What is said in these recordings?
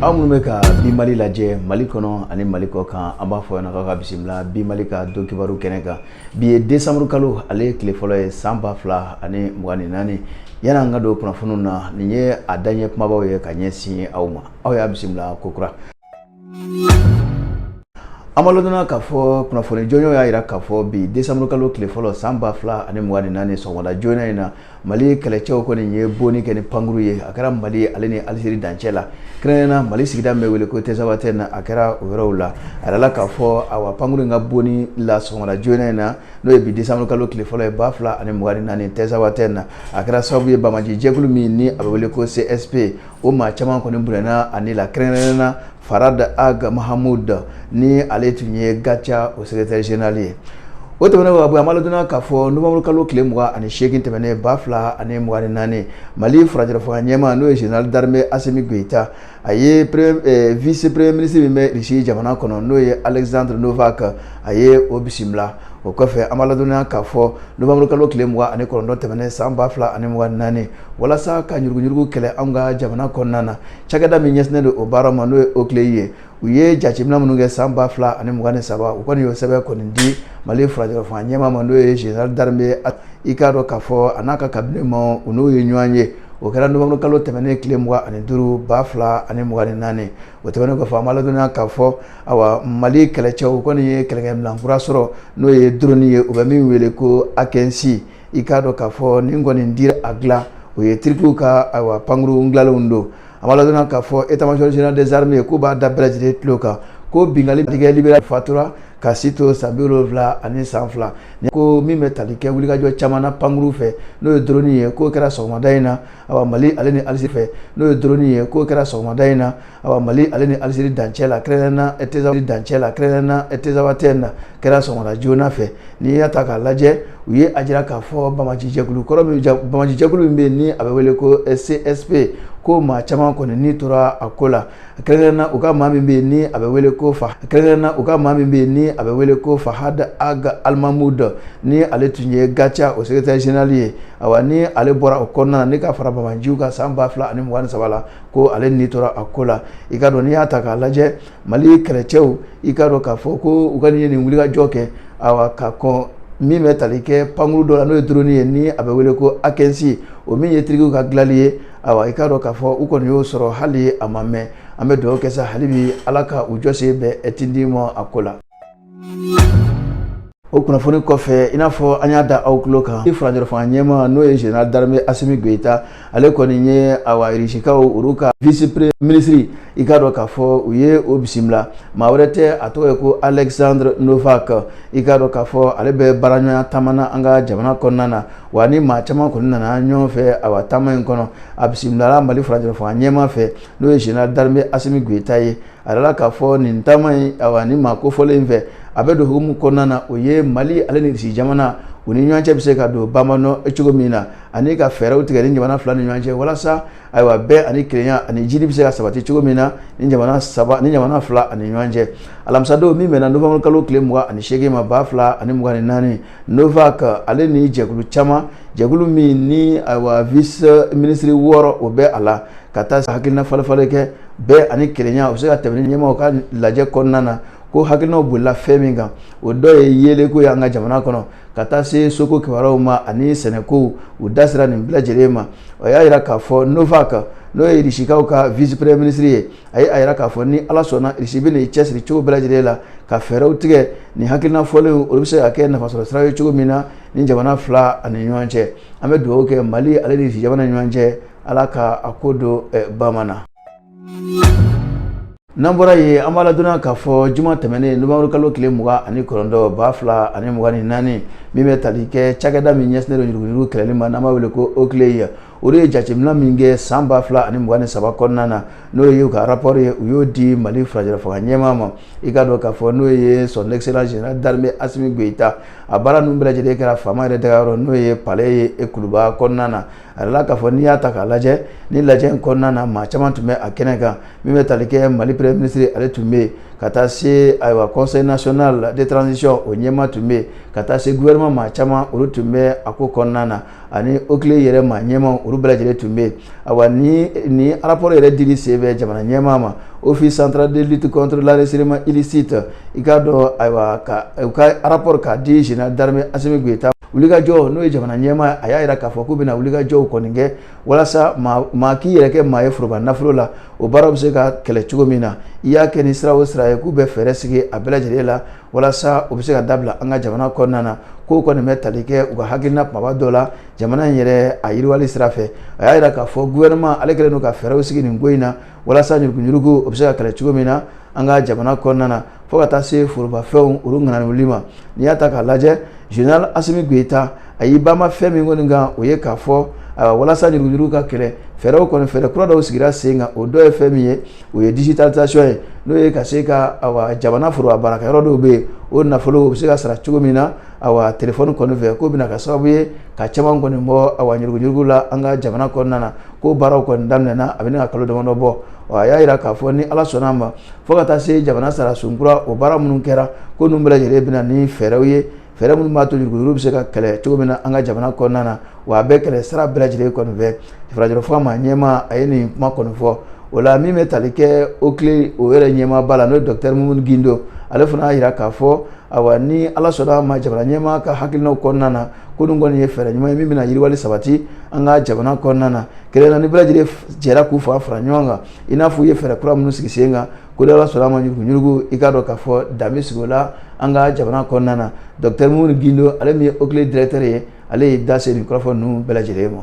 aw minnu bɛ ka bi mali lajɛ mali kɔnɔ ani mali kɔ kan an b'a fɔ yan k'aw ka bisimila bi mali ka don kibaru kɛnɛ kan bi ye desanburu kalo ale tile fɔlɔ ye san ba fila ani mugan ni naani yanni an ka don kunnafoniw na nin ye a daɲɛ kumabaw ye ka ɲɛsin aw ma aw y'a bisimila kokura an b'a ladɔnna k'a fɔ kunnafoni jɔnjɔn y'a jira k'a fɔ bi desanburu kalo tile fɔlɔ san ba fila ani mugan ni naani sɔgɔmada joona in na mali kɛlɛcɛw kɔni ye bonni kɛ ni pankuru ye a kɛra mali ale ni alizeri dancɛ la kɛrɛnkɛrɛnna mali sigida bɛ wele ko tinzawatɛn na a kɛra o yɔrɔw la a yɛrɛ la k'a fɔ awa pankuru in ka bonni la sɔgɔmada joona in na n'o ye bi desanburu kalo tile fɔlɔ ye ba fila ani mugan ni naani tinzawatɛn na a kɛra sababu ye banbaanci jɛkulu min ni a bɛ wele ko csp o maa caman kɔni bɔnɛna a ni la kɛrɛnkɛrɛnna fahad ag mahamud ni ale tun ye gatia o secrétaire général ye o tɛmɛnen awa an b'a ladɔnna k'a fɔ nowanburu kalo tile mugan ani seegin tɛmɛnen ba fila ani mugan ni naani mali furancɛla fanga ɲɛmaa n'o ye général d'armée assimi goïta a ye vice premier ministre min bɛ risi jamana kɔnɔ n'o ye alexandre novak a ye o bisimila o kɔfɛ an b'a ladɔnna k'a fɔ nowanburu kalo tile mugan ani kɔnɔntɔn tɛmɛnen san ba fila ani mugan ni naani walasa ka ɲuruguɲurugu kɛlɛ anw ka jamana kɔnɔna na cakɛda min ɲɛsinnen don o baara ma n'o ye oclei ye u ye jateminɛ minnu kɛ san ba fila ani mugan ni saba u kɔni y'o sɛbɛn kɔni di mali furancɛla fanga ɲɛmaa ma n'o ye général d'armée i k'a dɔn k'a fɔ a n'a ka kabine ma u n'o ye ɲɔgɔn ye o kɛra novembre kalo tɛmɛnen tile mugan ani duuru ba fila ani mugan ni naani o tɛmɛnen kɔfɛ an b'a ladɔnniya k'a fɔ awa mali kɛlɛcɛw u kɔni ye kɛlɛkɛminan kura sɔrɔ n'o ye drone ye u bɛ min wele ko akinci i k'a dɔn k'a fɔ nin kɔni dira a dilan o ye tirikiw ka ayiwa pankuru dilalenw don an b'a ladɔnna k'a fɔ état-major général des armées k'u b'a da bɛɛ lajɛlen tulo kan ko bingali tigɛ libéral fatura k'a si to san bi wolonwula ani san fila ko min bɛ tali kɛ wulikajɔ caman na pankuru fɛ n'o ye doroni ye k'o kɛra sɔgɔmada in na awa mali ale ni alizi fɛ n'o ye doroni ye k'o kɛra sɔgɔmada in na awa mali ale ni aliziri dancɛ la kɛrɛnkɛrɛnna tesa dancɛ la kɛrɛnkɛrɛnna tinzawatɛn na kɛra sɔgɔmada joona fɛ n'i y'a ta k'a lajɛ u ye a jira k'a fɔ banbaanci jɛkulu kɔrɔ min banbaanci jɛkulu min bɛ yen ni a bɛ wele ko csp ko maa caman kɔni ni tora a ko la kɛrɛnkɛrɛnna u ka maa min bɛ yen ni a bɛ wele ko fa kɛrɛnkɛrɛnna u ka maa min bɛ yen ni a bɛ wele ko fahad ag almamud ni ale tun ye gatia o sekretɛri generali ye awa ni ale bɔra o kɔnɔna na ni ka fara banbaanciw kan san ba fila ani mugan ni saba la ko ale ni tora a ko la i k'a dɔn n'i y'a ta k'a lajɛ mali kɛlɛcɛw i k'a dɔn k'a fɔ ko u ka nin ye nin wulikajɔ kɛ awa ka kɔn min bɛ tali kɛ pankuru dɔ la n'o ye drone ye ni a bɛ wele ko akinci o min ye tirikiw ka dilanli ye awa i k'a dɔn k'a fɔ u kɔni y'o sɔrɔ hali a ma mɛn an bɛ dugawu kɛ sa hali bi ala ka u jɔsen bɛɛ tindi ma a ko la o kunnafoni kɔfɛ i n'a fɔ an y'a da aw tulo kan ni furancɛlafanga ɲɛma n'o ye général d'armée Assimi Goïta ale kɔni ye awa irisikaw olu ka vice premier ministre i k'a dɔn k'a fɔ u ye o bisimila maa wɛrɛ tɛ a tɔgɔ ye ko Alexandre Novak i k'a dɔn k'a fɔ ale bɛ baaraɲɔgɔnya taama na an ka jamana kɔnɔna na wa a ni maa caman kɔni nana ɲɔgɔn fɛ awa taama in kɔnɔ a bisimilala Mali furancɛlafanga ɲɛma fɛ n'o ye général d'armée Assimi Goïta ye a jirala k'a fɔ nin taama in awa ni maa kofɔlen in fɛ a bɛ don hukumu kɔnɔna na o ye mali ale ni irisi jamana u ni ɲɔgɔn cɛ bɛ se ka don bamanɔ cogo min na ani ka fɛɛrɛw tigɛ ni jamana fila ni ɲɔgɔn cɛ walasa ayiwa bɛn ani kelenya ani jiidi bɛ se ka sabati cogo min na ni jamana saba ni jamana fila ani ɲɔgɔn cɛ alamisadon min bɛnna nowanburukalo tile mugan ani seegin ma ba fila ani mugan ni naani Novak ale ni jɛkulu caman jɛkulu min ni ayiwa vice ministre wɔɔrɔ o bɛ a la ka taa hakilinafalenfalen kɛ bɛn ani kelenya u bɛ se ka tɛmɛ nin ɲɛmaw ka lajɛ kɔnɔna na ko hakilinaw bolila fɛn min kan o dɔ ye yeelenko y'an ka jamana kɔnɔ ka taa se soko kibaruw ma ani sɛnɛko u da sera nin bɛɛ lajɛlen ma o y'a jira k'a fɔ Novak n'o ye irisikaw ka vice premier ministre ye a ye a jira k'a fɔ ni ala sɔnna irisi bɛn'i cɛsiri cogo bɛɛ lajɛlen la ka fɛɛrɛw tigɛ nin hakilina fɔlenw olu bɛ se ka kɛ nafasɔrɔ sira ye cogo min na ni jamana fila ani ɲɔgɔn cɛ an bɛ dugawu kɛ mali ale ni irisi jamana ɲɔgɔn cɛ ala ka a ko don eh, bamanan na n'an bɔra yen an b'a ladɔnniya k'a fɔ juma tɛmɛnen nowanburu kalo tile mugan ani kɔnɔntɔn ba fila ani mugan ni naani min bɛ tali kɛ cakɛda min ɲɛsinnen don yuruguyurugu kɛlɛli ma n'an b'a wele ko OCLEI olu ye jateminɛ min kɛ san ba fila ani mugan ni saba kɔnɔna na n'o ye u ka rapport ye u y'o di mali furancɛlafanga ɲɛmaa ma i ka dɔn k'a fɔ n'o ye son excellence général d'armée asimi goyita a baara ninnu bɛɛ lajɛlen kɛra faama yɛrɛ dagayɔrɔ n'o ye palais ye e kuluba kɔnɔna na a jirala k'a fɔ n'i y'a ta k'a lajɛ nin lajɛ in kɔnɔna na maa caman tun bɛ a kɛnɛ kan min bɛ tali kɛ mali premier ministre ale tun bɛ yen ka taa se ayiwa conseil national de transition o ɲɛmaa tun bɛ yen ka taa se gouvernement maa caman olu tun bɛ a ko kɔnɔna na ani OCLEI yɛrɛ maa ɲɛmaw olu bɛɛ lajɛlen tun bɛ yen awa nin rapport yɛrɛ dili senfɛ jamana ɲɛma ma office central de lutte contre l'enrichissement illicite i k'a dɔn ayiwa ka u ka rapport k'a di général d'armée Assimi Goïta wuli ka jɔ n'o ye jamana ɲɛma a y'a jira k'a fɔ k'u bɛna wulikajɔw kɔni kɛ walasa maa k'i yɛrɛ kɛ maa ye foroba nafolo la o baaraw bɛ se ka kɛlɛ cogo min na i y'a kɛ ni sira o sira ye k'u bɛ fɛɛrɛ sigi a bɛɛ lajɛlen la walasa o bɛ se ka dabila an ka jamana kɔnɔna na k'o kɔni bɛ tali kɛ u ka hakilina kumaba dɔ la jamana in yɛrɛ a yiriwali sira fɛ a y'a jira k'a fɔ gouvernement ale kɛlen don ka fɛɛrɛw sigi nin ko in na walasa yuruguyurugu o bɛ se ka kɛlɛ cogo min na an ka jamana kɔnɔna na fo ka taa se forobafɛnw olu ŋanawuli ma n'i y'a ta k'a lajɛ général Asimi Goyita a y'i banban fɛn min kɔni kan o ye k'a fɔ walasa yuruguyurugu ka kɛlɛ fɛɛrɛw kɔni fɛɛrɛ kura dɔw sigira sen kan o dɔ ye fɛn min ye o ye digitalisation ye n'o ye ka se ka awa jamana foroba baarakɛyɔrɔ dɔw bɛ yen o nafolo o bɛ se ka sara cogo min na awa telefɔni kɔni fɛ k'o bɛna ka sababu ye ka caman kɔni bɔ awa ɲuruguɲurugu la an ka jamana kɔnɔna na ko baaraw kɔni daminɛna a bɛ ka kalo damadɔ bɔ a y'a jira k'a fɔ ni ala sɔnna a ma fo ka taa se jamana sariyasun kura o baara minnu kɛra ko ninnu bɛɛ lajɛlen bɛ na ni fɛɛrɛw ye fɛɛrɛ minnu b'a to ɲuruguɲurugu bɛ se ka kɛlɛ cogo min na an ka jamana kɔnɔna na wa a bɛ kɛlɛ sira bɛɛ lajɛlen kɔni fɛ farajɛrɛ fɔ maa ɲɛmaa a ye nin kuma kɔni fɔ o la min bɛ tali kɛ OCLEI o yɛrɛ ɲɛmaaba la n'o ye dɔkitɛri mumuni gindo ale fana y'a jira k'a fɔ ayiwa ni ala sɔnna ma jamana ɲɛmaa ka hakilinaw kɔnɔna na ko nin kɔni ye fɛɛrɛ ɲuman ye min bɛna yiriwali sabati an ka jamana kɔnɔna na kɛlɛ na ni bɛɛ lajɛlen jɛra k'u fanga fara ɲɔgɔn kan i n'a fɔ u ye fɛɛrɛ kura minnu sigi sen kan ko ni ala sɔnna a ma ɲuruguɲurugu i k'a dɔn k'a fɔ dan bɛ sigi o la an ka jamana kɔnɔna na dɔkitɛri mumuni gindo ale min ye OCLEI directeur ye ale y'i da se nin kɔrɔfɔ ninnu bɛɛ lajɛlen ma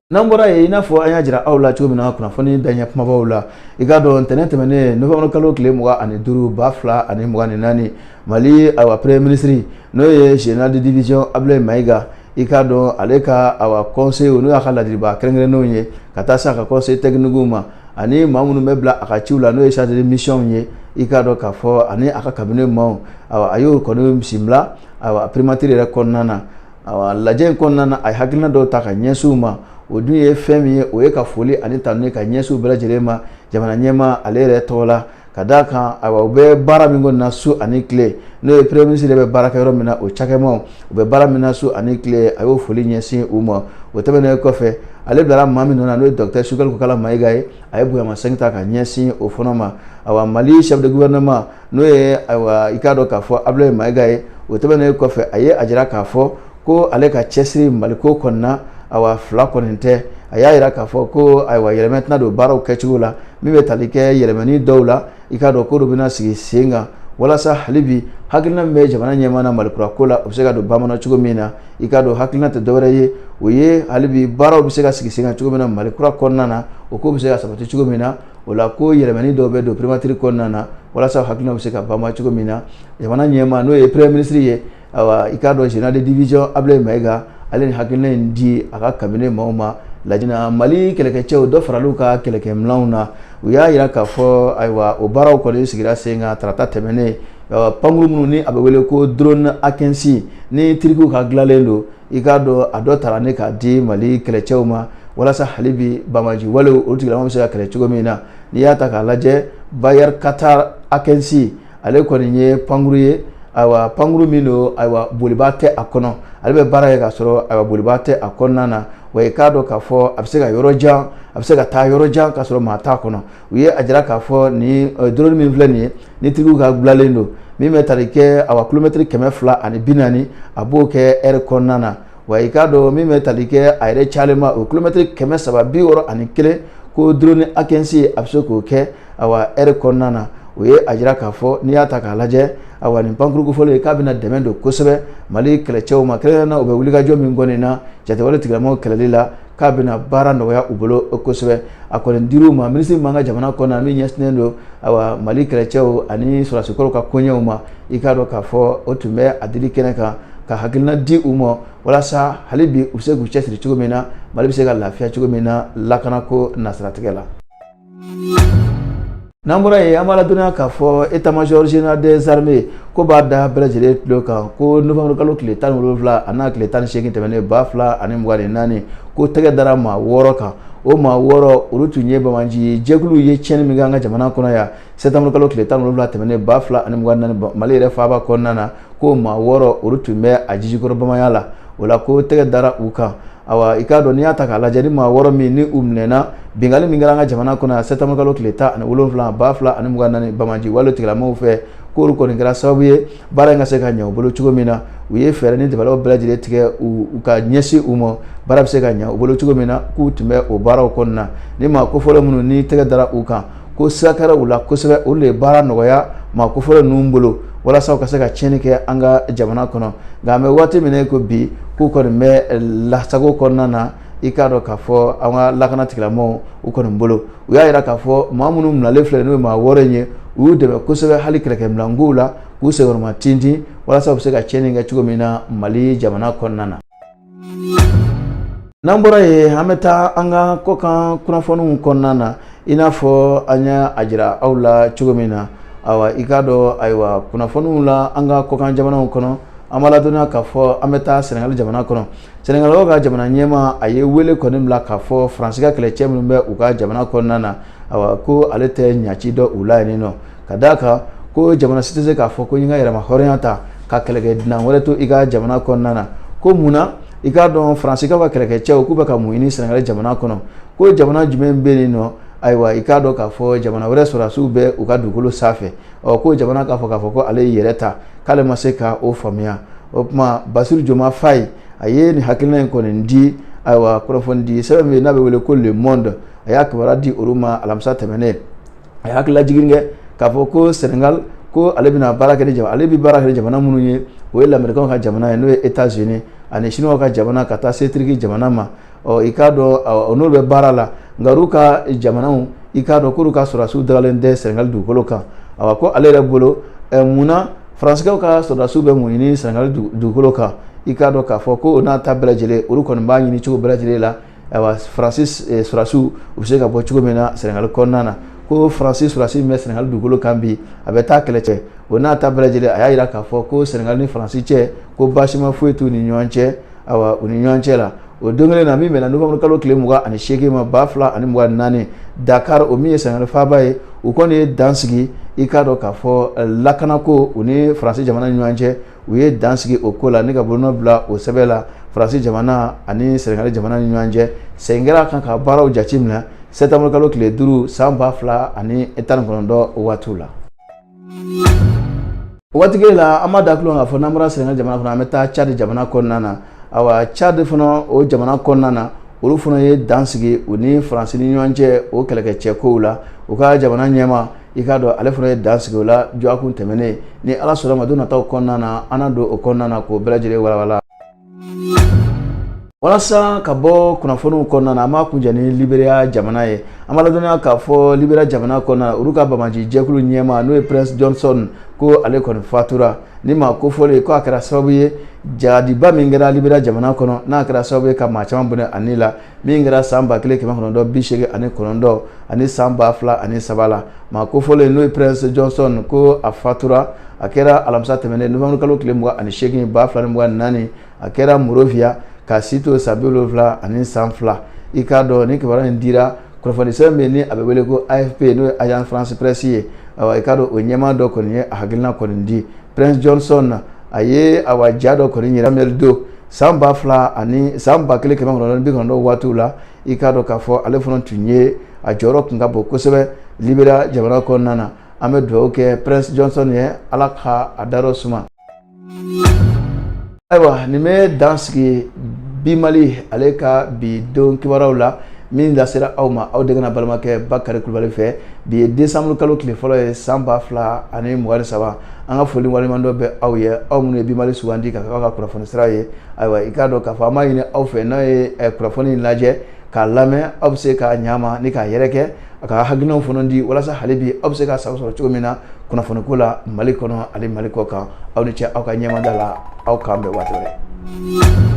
n'an bɔra yen i n'a fɔ an y'a jira aw la cogo min na kunnafoni daɲɛ kumabaw la i k'a dɔn ntɛnɛn tɛmɛnen nowanburu kalo tile mugan ani duuru ba fila ani mugan ni naani mali awa premier ministre n'o ye général de division abulayi mayiga i k'a dɔn ale ka awa conseil n'o y'a ka ladilibaa kɛrɛnkɛrɛnnenw ye ka taa se a ka conseil technique ma ani maa minnu bɛ bila a ka ciw la n'o ye chargé de mission ye i k'a dɔn k'a fɔ ani a ka cabinet maaw awa a y'o kɔni bisimila awa primature yɛrɛ kɔnɔna na awa lajɛ in kɔnɔna na a ye hakilina dɔw ta ka ɲɛsin u ma o dun ye fɛn min ye o ye ka foli ani tanuni ka ɲɛsin u bɛɛ lajɛlen ma jamana ɲɛmaa ale yɛrɛ tɔgɔ la Ka d' a kan ayiwa u bɛ baara min kɔni na su ani tile n'o ye premier ministre bɛ baara kɛ yɔrɔ min na o cakɛmaaw u bɛ baara min na su ani tile a y'o foli ɲɛsin u ma o tɛmɛnen kɔfɛ ale bilara maa min nɔ na n'o ye dɔkitɛri sogɛli kokala mayiga ye a ye bonyamasegin ta ka ɲɛsin o fana ma ayiwa mali chef de gouvernement n'o ye ayiwa i k'a dɔn k'a fɔ abulayi mayiga ye o tɛmɛnen kɔfɛ a ye a jira k'a fɔ ko ale ka cɛsiri maliko kɔnɔna awa fila kɔni tɛ a y'a jira k'a fɔ ko ayiwa yɛlɛma tɛna don baaraw kɛcogo la min bɛ tali kɛ yɛlɛmani dɔw la i k'a dɔn ko dɔ bɛna sigi sen kan walasa hali bi hakilina min bɛ jamana ɲɛmaa na malikura ko la o bɛ se ka don bamanan cogo min na i k'a dɔn hakilina tɛ dɔwɛrɛ ye o ye hali bi baaraw bɛ se ka sigi sen kan cogo min na malikura kɔnɔna na o ko bɛ se ka sabati cogo min na o la ko yɛlɛmani dɔw bɛ don primature kɔnɔna na walasa hakilina bɛ se ka bama cogo min na jamana ɲɛmaa n'o ye premier ministre ye awa i k'a dɔn général de division ablaye mayiga ale ye nin hakilina in di a ka cabinet maaw ma lajɛ in na mali kɛlɛkɛcɛw dɔ faral'u ka kɛlɛkɛminɛnw na u y'a yira k'a fɔ ayiwa o baaraw kɔni sigira sen kan tarata tɛmɛnen pankurun minnu ni a bɛ wele ko drone akinci ni tirikiw ka dilanlen don i k'a dɔn a dɔ tara ne k'a di mali kɛlɛcɛw ma walasa hali bi banbaanci walew olu tigilamaw bɛ se ka kɛlɛ cogo min na n'i y'a ta k'a lajɛ bayraktar akinci ale kɔni ye pankuru ye ayiwa pankuru min don ayiwa bolibaa tɛ a kɔnɔ ale bɛ baara kɛ k'a sɔrɔ ayiwa bolibaa tɛ a kɔnɔna na wa i k'a dɔn k'a fɔ a bɛ se ka yɔrɔ jan a bɛ se ka taa yɔrɔ jan k'a sɔrɔ maa t'a kɔnɔ u ye a jira k'a fɔ nin drone min filɛ nin ye ni tigiw ka dilannen don min bɛ tali kɛ awa kilomɛtiri kɛmɛ fila ani bi naani a b'o kɛ ɛri kɔnɔna na wa i k'a dɔn min bɛ tali kɛ a yɛrɛ cayalenba o kilomɛtiri kɛmɛ saba bi wɔɔrɔ ani kelen ko drone akinci a bɛ se k'o kɛ awa ɛri kɔnɔna na u ye a jira k'a fɔ n'i y'a ta k'a lajɛ awa nin pankuru kofɔlen ye k'a bɛna dɛmɛ don kosɛbɛ mali kɛlɛcɛw ma kɛrɛnkɛrɛn na u bɛ wulikajɔ min kɔni na jatigɛwale tigilamɔgɔw kɛlɛli la k'a bɛna baara nɔgɔya u bolo kosɛbɛ a kɔni dir'u ma minisiri min b'an ka jamana kɔnɔna min ɲɛsinnen don awa mali kɛlɛcɛw ani sɔrɔdasikɔrɔw ka koɲɛw ma i k'a dɔn k'a fɔ o tun bɛ a dili kɛnɛ kan ka hakilina di u ma walasa hali bi u bɛ se k'u cɛsiri cogo min na mali bɛ se ka lafiya cogo min na lakanako nasiratigɛ la n'an bɔra yen an b'a ladɔnniya k'a fɔ état-major général des armées ko b'a da bɛɛ lajɛlen tulo kan ko novembre kalo tile tan ni wolonwula an'a tile tan ni seegin tɛmɛnen ba fila ani mugan ni naani ko tɛgɛ dara maa wɔɔrɔ kan o maa wɔɔrɔ olu tun ye banbaanci jɛkuluw ye tiɲɛni min kɛ an ka jamana kɔnɔ yan sɛtanburukalo tile tan ni wolonwula tɛmɛnen ba fila ani mugan ni naani mali yɛrɛ faaba kɔnɔna na ko maa wɔɔrɔ olu tun bɛ a jijukɔrɔ bamaya la o la ko tɛgɛ dara u kan awa i k'a dɔn n'i y'a ta k'a lajɛ ni maa wɔɔrɔ min ni u minɛna binkanni min kɛra an ka jamana kɔnɔ yan sɛtanburukalo tile tan ani wolonwula ba fila ani mugan naani banbaanci wale tigilamɔgɔw fɛ k'olu kɔni kɛra sababu ye baara in ka se ka ɲɛ u bolo cogo min na u ye fɛɛrɛ ni dabalaw bɛɛ lajɛlen tigɛ u ka ɲɛsin u ma baara bɛ se ka ɲɛ u bolo cogo min na k'u tun bɛ o baaraw kɔnɔna ni maa kofɔlen minnu ni tɛgɛ dara u kan ko sira kɛra u la kosɛbɛ olu de ye baara nɔgɔya maa kofɔlen ninnu bolo walasa u ka se ka tiɲɛni kɛ an ka jamana kɔnɔ nka an bɛ waati min na ko bi k'u kɔni bɛ lasago kɔnɔna na i k'a dɔn k'a fɔ an ka lakana tigilamɔgɔw u kɔni bolo u y'a jira k'a fɔ maa minnu minɛlen filɛ n'o ye maa wɔɔrɔ in ye u y'u dɛmɛ kosɛbɛ hali kɛlɛkɛminɛnkow la k'u senkɔrɔma tintin walasa u bɛ se ka tiɲɛni kɛ cogo min na mali jamana kɔnɔna na n'an bɔra yen an bɛ taa an ka kɔkan kunnafoniw kɔnɔna na i n'a fɔ an y'a jira aw la cogo min na awa i k'a dɔn ayiwa kunnafoniw la an ka kɔkan jamanaw kɔnɔ an b'a ladɔnniya k'a fɔ an bɛ taa sɛnɛgali jamana kɔnɔ sɛnɛgalikaw ka jamana ɲɛmaa a ye wele kɔni bila k'a fɔ faransi ka kɛlɛcɛ minnu bɛ u ka jamana kɔnɔna na awa ko ale tɛ ɲaci dɔn u la yen nɔ ka d'a kan ko jamana si tɛ se k'a fɔ ko i ka yɛrɛmahɔrɔnya ta ka kɛlɛkɛ dunan wɛrɛ to i ka jamana kɔnɔna na ko mun na i k'a dɔn faransi ka kɛlɛkɛcɛw k'u bɛ ka mun ɲini sɛnɛgali jamana kɔnɔ ko jamana jumɛn bɛ yen nɔ ayiwa i k'a dɔn k'a fɔ jamana wɛrɛ sɔrɔdasiw bɛ u ka dugukolo sanfɛ ɔ ko jamana k'a fɔ k'a fɔ ko ale y'i yɛrɛ ta k'ale ma se ka o faamuya o tuma basiru joma fayi a ye nin hakilina in kɔni di ayiwa kunnafoni di sɛbɛn min n'a bɛ wele ko le monde a y'a kibaruya di olu ma alamisa tɛmɛnen a y'a hakilila jigin kɛ k'a fɔ ko sɛnɛgali ko ale bɛna baara kɛ ni jamana ale bɛ baara kɛ ni jamana minnu ye o ye lamɛrikaw ka jamana ye n'o ye états-unis ani siniwa ka jamana ka taa se turiki jamana ma ɔ i k'a dɔn n'olu bɛ baara la nka olu ka jamanaw i k'a dɔn k'olu ka sɔrɔdasiw dagalen tɛ sɛnɛgali dugukolo kan awa ko ale yɛrɛ bolo ɛ mun na faransikɛw ka sɔrɔdasiw bɛ mun ɲini sɛnɛgali dugukolo kan i k'a dɔn k'a fɔ ko o n'a ta bɛɛ lajɛlen olu kɔni b'a ɲini cogo bɛɛ lajɛlen la ayiwa faransi eh, sɔrɔdasiw u bɛ se ka bɔ cogo min na sɛnɛgali kɔnɔna na ko faransi sɔrɔdasi min bɛ sɛnɛgali dugukolo kan bi a bɛ taa kɛlɛ cɛ o n'a ta bɛɛ lajɛlen a y'a jira k'a fɔ ko sɛnɛgali ni faransi cɛ ko baasima foyi t'u ni ɲɔgɔn cɛ ayiwa u ni ɲɔgɔn cɛ la o don kelen na min bɛnna novembre kalo tile mugan ani seegin ma ba fila ani mugan ni naani dakar o min ye sɛnɛgali faaba ye u kɔni ye dan sigi i k'a dɔn k'a fɔ lakanako u ni faransi jamana ni ɲɔgɔn cɛ u ye dan sigi o ko la ni ka bolonɔ bila o sɛbɛn la faransi jamana ani sɛnɛgali jamana ni ɲɔgɔn cɛ segin kɛra a kan ka baaraw jate minɛ sɛtanburu kalo tile duuru san ba fila ani tan ni kɔnɔntɔn waatiw la o waati kelen la an b'a da tulo kan k'a fɔ n'an bɔra sɛnɛgali jamana kɔnɔ an bɛ taa cadi jamana kɔnɔna na awa cad fana o jamana kɔnɔna na olu fana ye dan sigi u ni faransi ni ɲɔgɔn cɛ o kɛlɛkɛcɛ kow la u ka jamana ɲɛmaa i k'a dɔn ale fana ye dan sigi o la dɔgɔkun tɛmɛnen ni ala sɔnna ma don nataw kɔnɔna na an na don o kɔnɔna na k'o bɛɛ lajɛlen walawala walasa ka bɔ kunnafoniw kɔnɔna na an b'a kuncɛ ni liberiya jamana ye an b'a ladɔnniya k'a fɔ liberiya jamana kɔnɔna na olu ka banbaanci jɛkulu ɲɛmaa n'o ye prince johnson ko ale kɔni fatura ni maa kofɔlen ko a kɛra sababu ye jahadiba min kɛra liberiya jamana kɔnɔ n'a kɛra sababu ye ka maa caman bɔnɛ a ni la min kɛra san ba kelen kɛmɛ kɔnɔntɔn bi seegin ani kɔnɔntɔn ani san ba fila ani saba la maa kofɔlen n'o ye prince johnson ko a fatura a kɛra alamisa tɛmɛnen novembre kalo tile mugan ani seegin ba fila ni mugan naani a kɛra monrovia k'a si to san bi wolonwula ani san fila i k'a dɔn ni kibaruya in dira kunnafonisɛbɛn min ni a bɛ wele ko afp n'o ye agence france presse ye awa i k'a dɔn o ɲɛmaa dɔ kɔni ye a hakilina kɔni di prince johnson a ye awa ja dɔ kɔni yira samuel doe san ba fila ani san ba kelen kɛmɛ kɔnɔntɔn bi kɔnɔntɔn waatiw la i k'a dɔn k'a fɔ ale fana tun ye a jɔyɔrɔ tun ka bon kosɛbɛ liberiya jamana kɔnɔna na an bɛ dugawu kɛ prince johnson ye ala ka a dayɔrɔ suma ayiwa nin bɛ dan sigi bimali ale ka bi don kibaruyaw la min lasera aw ma aw denkɛ n'aw balimakɛ bakari kulubali fɛ bi ye décembre kalo tile fɔlɔ ye san ba fila ani mugan ni saba an ka foli waleɲumandɔn bɛ aw ye aw minnu ye bimali sugandi ka k'aw ka kunnafoni sira ye ayiwa i k'a dɔn k'a fɔ an b'a ɲini aw fɛ n'a ye eh, kunnafoni in lajɛ k'a lamɛn aw bɛ se k'a ɲama ni k'a yɛrɛkɛ a ka hakilinaw fana di walasa hali bi aw bɛ se k'a sago sɔrɔ cogo min na kunnafoniko la mali kɔnɔ ani mali kɔ kan aw ni ce aw ka ɲɛmada la aw k'an bɛn waati wɛrɛ